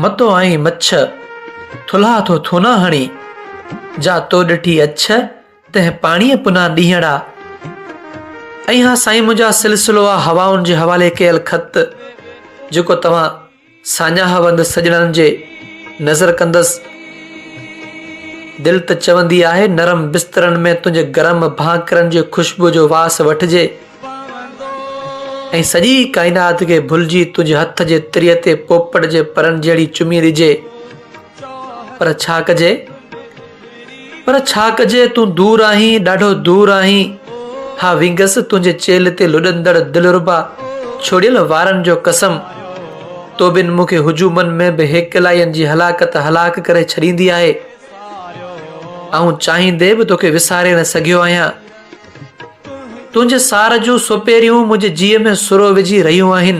متو آئين مڇ، ٿلها ٿو ٿونا هڻي، جا تو ڏٺي اڇ، تنهن پاڻيء پنا ڏينهڙا. ۽ اها سائين منهنجا سلسلو آ هوائن جي حوالي ڪيل خط، جيڪو توهان ساڃاهه وند سڄڻن جي نذر ڪندس. دل ته چوندي آهي نرم بسترن ۾ تنهنجي گرم ڀانڪرن جي خوشبوء جو واس وٺجي. ۽ سڄي ڪائنات کي ڀلجي تنهنجي هٿ جي تري تي پوپٽ جي پرن جهڙي چمي ڏجي. پر ڇا ڪجي؟ پر ڇا ڪجي تون دور آهين ڏاڍو دور آهين. ها وينگس تنهنجي چيلهه تي لڏندڙ دلربا ڇوڙيل وارن جو قسم. توبن مون کي هجومن ۾ به هيڪلائين جي هلاڪت هلاڪ ڪري ڇڏيندي آهي. آئون چاهيندي به توکي وساري نه سگهيو آهيان. تنهنجي سار جون سپيريون منهنجي جيء ۾ سرو وجهي رهيون آهن.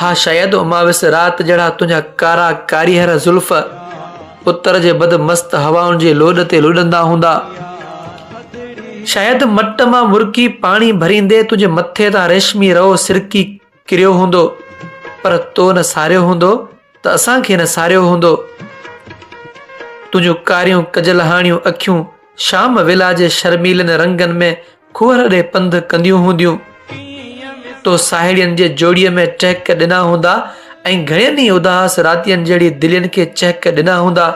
ها شايد اماوس رات جهڙا تنهنجا ڪارا ڪاريهر زلف اتر جي بد مست هوائن جي لوڏ تي لڏندا هوندا. شايد مٽ مان مرڪي پاڻي ڀريندي تنهنجي مٿي تان ريشمي رئو سرڪي ڪريو هوندو پر تو نه ساريو هوندو ته اسان کي نه ساريو هوندو تنهنجون ڪاريون ڪجل هاڻيون اکيون شام ويلا جي شرميلن رنگن ۾ کوهر ڏي پنڌ ڪنديون هونديون تو ساهيڙين جي جوڙي ۾ ٽهڪ ڏنا هوندا ۽ گهڻين ئي اداس راتين جهڙي دلين کي چهڪ ڏنا هوندا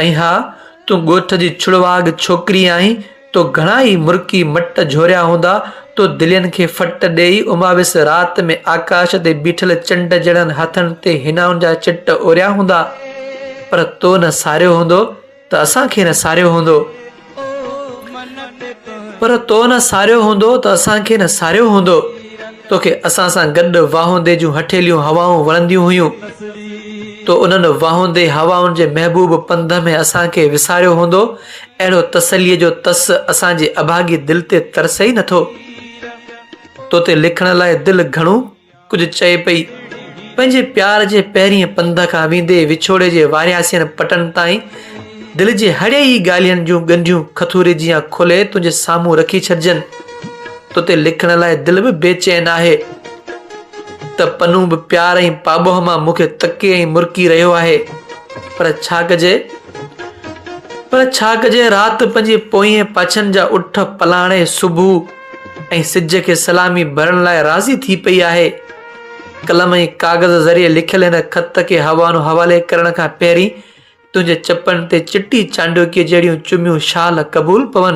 ۽ ها تون ڳوٺ جي ڇڙواڳ ڇوڪري آهين تو گهڻا ئي مرڪي مٽ جهوريا هوندا، تو دلين کي ڦٽ ڏيئي اماوس رات ۾ آڪاش تي بيٺل چنڊ جهڙن هٿن تي حنائن جا چٽ اوريا هوندا، پر تو نه ساريو هوندو ته اسان کي نه ساريو هوندو. پر تو نه ساريو هوندو ته اسان کي نه ساريو هوندو. توکي اسان سان گڏ واهوندي جون هٺيليون هوائون وڻنديون هيون. تو انهن واهوندي هوائن جي محبوب پنڌ ۾ اسان کي وساريو هوندو اهڙو تسليء جو تس اسان جي اڀاڳي دل تي ترسي ئي نٿو. تو تي لکڻ لاء دل گهڻو ڪجهه چئي پئي. پنهنجي پيار جي پهرين پنڌ کان ويندي وڇوڙي جي وارياسين پٽن تائين دل جي هڙئي ئي ڳالهين جون ڳنڍيون کٿوري جيان کولي تنهنجي سامهون رکي ڇڏجن. تو تي لکڻ لاء دل به بي چين آهي ته پنو به پيار ۽ پاٻوهه مان مون کي تڪي ۽ مرڪي رهيو آهي پر ڇا ڪجي پر ڇا ڪجي رات پنهنجي پوئين پاڇن جا اٺ پلاڻي صبح ۽ سج کي سلامي ڀرڻ لاء راضي ٿي پئي آهي قلم ۽ ڪاغذ ذريعي لکيل هن خط کي حوانو حوالي ڪرڻ کان پهرين تنهنجي چپن تي چٽي چانڊوڪيء جهڙيون چميون شال قبول پون.